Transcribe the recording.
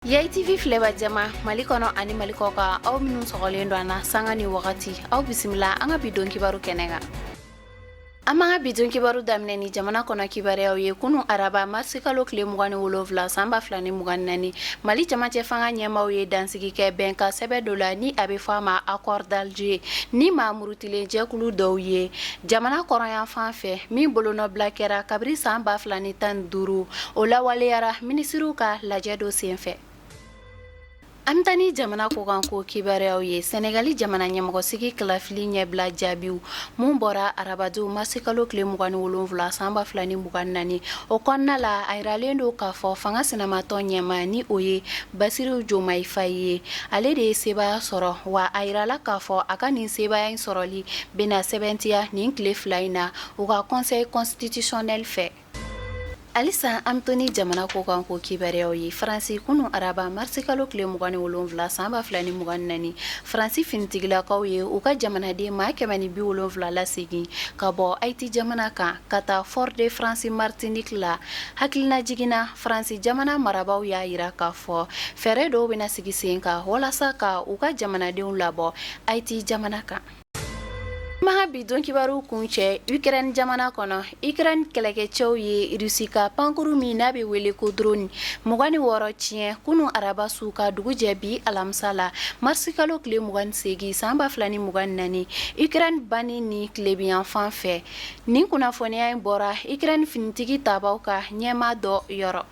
Yayi TV filɛbaa jama Mali kɔnɔ ani Mali kɔ kan aw minnu sɔgɔlen don an na sanga ni wagati aw bisimila an ka bi don kibaru kɛnɛ kan. An b'an ka bi don kibaru daminɛ ni jamana kɔnɔ kibaruyaw ye kunun araba marisi kalo tile mugan ni wolonwula san ba fila ni mugan ni naani Mali camancɛ fanga ɲɛmaaw ye dansigi kɛ bɛnkan sɛbɛn dɔ la ni a bɛ fɔ a ma accord d'Alger ni maa murutilen jɛkulu dɔw ye Jamana kɔrɔnyanfan fɛ min bolonɔbila kɛra kabiri san ba fila ni tan duuru o lawaleyara minisiriw ka lajɛ dɔ senfɛ an bɛ taa ni jamana kɔkan ko kibaruyaw ye Senegali jamana ɲɛmɔgɔsigi kalafili ɲɛbila jaabiw minnu bɔra araba don marisi kalo tile mugan ni wolonwula san ba fila ni mugan ni naani o kɔnɔna la a yiralen don k'a fɔ fanga sinamatɔn ɲɛmaa ni o ye Basiru Jomayi Fayi ye ale de ye sebaaya sɔrɔ wa a yirala k'a fɔ a ka nin sebaaya in sɔrɔli Bɛna sɛbɛntiya nin tile fila in na u ka conseil constitutionnel fɛ halisa an bɛ to ni jamana kɔkan ko kibaruyaw ye faransi kunun araba marisi kalo tile mugan ni wolonwula san ba fila ni mugan ni naani faransi finitigilakaw ye u ka jamanaden maa kɛmɛ ni bi wolonwula lasegin ka bɔ ayiti jamana kan ka taa Fort-de-France Martinique la hakilinajigin na faransi jamana marabaaw y'a yira k'a fɔ fɛɛrɛ dɔw bɛna sigi sen kan walasa ka u ka jamanadenw labɔ ayiti jamana kan An b'an ka bi don kibaru kuncɛ ukraine jamana kɔnɔ ukraine kɛlɛkɛcɛw ye Russie ka pankurun min n'a bɛ wele ko drone mugan ni wɔɔrɔ tiɲɛ kunun araba su ka dugu jɛ bi alamisa la marisi kalo tile mugan ni seegin san ba fila ni mugan ni naani ukraine banni ni tilebinyanfan fɛ nin kunnafoniya in bɔra ukraine finitigi taabaaw ka ɲɛmaa dɔ yɔrɔ